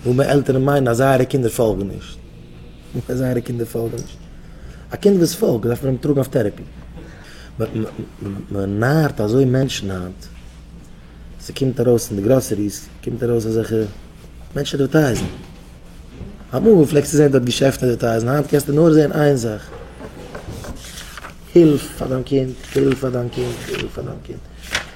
וואו מער עלטערן מיינען אז זייערע קינדער פאלגן נישט, וואו מער זייערע קינדער פאלגן נישט. א קינד וואס פאלגט דארף מען אים טראגן אויף טערעפי. מען נארט אזוי מענטשן היינט, ס'קומט ארויס אין די גראסעריס קומט ארויס אזעלכע מענטשן עדווערטייזן. אמאל פלעגסטו זען דארט געשעפטן עדווערטייזן, היינט קענסטו נאר זען איין זאך, הילף פאר דיין קינד, הילף פאר דיין קינד, הילף פאר דיין קינד.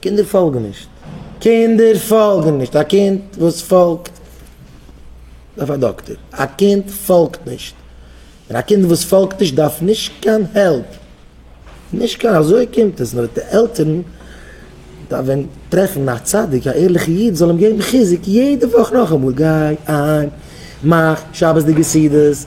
קינדער פאלגן נישט. קינדער פאלגן נישט. א קינד וואס פאלגט דארף א דאקטער. א קינד פאלגט נישט. און א קינד וואס פאלגט נישט דארף נישט קיין העלפ. נישט קיין אזוי קומט עס. נאר די עלטערן דארפן טרעפן א צדיק, א ערליכע איד זאל אים געבן חיזוק יעדע וואך נאכאמאל, גיי אהיים, מאך שבת'דיגע סעודות,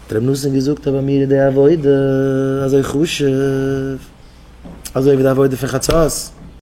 דער רבי נתן געזאגט אז ביי מיר איז די עבודה אזוי חשוב אזוי ווי די עבודה פון חצות.